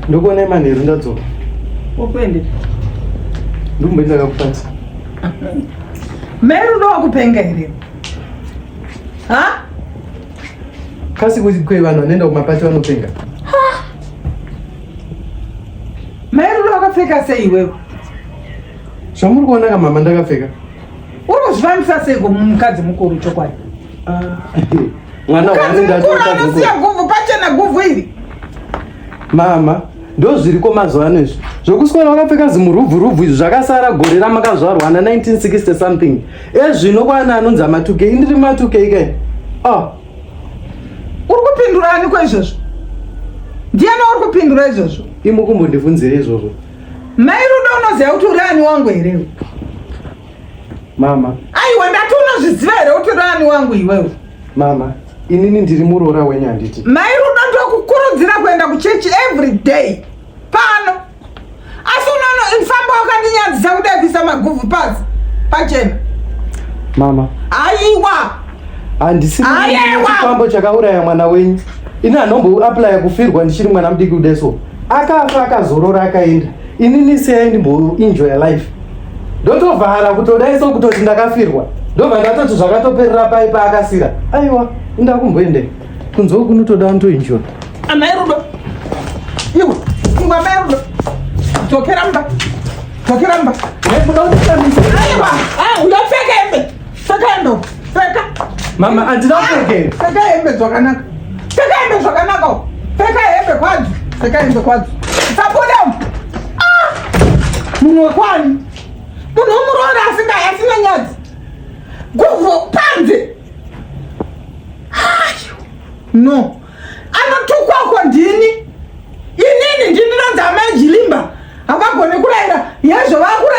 ndokuona imanheru ndadzoka ukuende ndikumbe ndakakupata meru ndowakupenga here ha kasi kwe vanhu vanoenda kumapati vanopenga meru ndowakapfeka sei iwewe zvamuri kuona kamama ndakapfeka Unozvivanisa seiko mukadzi mukuru chokwadi? Ah, mwana wani ndati mukadzi mukuru. Siya guvhu pachena guvhu iri. Mama, ndo zviriko mazuva ano izvi zvokuswera wakapfeka zimurubvu rubvu izvi zvakasara gore ramakazvarwa na 1960 something ezvino kwana anonzi amatukei ndiri matukei kai oh. Ah. uri kupindura aniko izvozvo ndiani uri kupindura izvozvo imukumbondivunzire izvozvo Mai Rudo unoziva kuti uri ani wangu here? Mama. Aiwa ndati unozviziva here kuti uri ani wangu iwewe? Mama, inini ndiri muroora wenyu handiti? Mai Rudo ndokukurudzira kuenda kuchechi every day. Pano. Asi unono infamba wakandinyadzisa kudai kuisa maguvhu pasi. Pachena. Mama. Aiwa. handisi chikwambo chakauraya mwana wenyu ini anomboaplya kufirwa ndichiri mwana mudiki kudai so akafa akazorora akaenda inini siyai ndimboenjoy life ndotovhara kutodai so kutoti ndakafirwa ndobva ndatoti zvakatoperera pai paakasira aiwa inda kumboende kunzwa kunotoda ndoenjoy amai rudo iwe ingwa amai rudo dzokera mba dzokera mba ndopfeka hembe Sekendo, seka. Mama, handina ah, kupfekera. Seka hembe zvakanaka. Seka hembe zvakanaka. Seka hembe kwadzo. Seka hembe kwadzo. Sabuda. Ah! Munhu wekwani? Munhu womuroora asinga asina nyadzi. Guvhu panze. No. Anotukwa kwa ndini. Inini ndini ranza amai Jilimba. Havagone kurayira. Yezvo vakura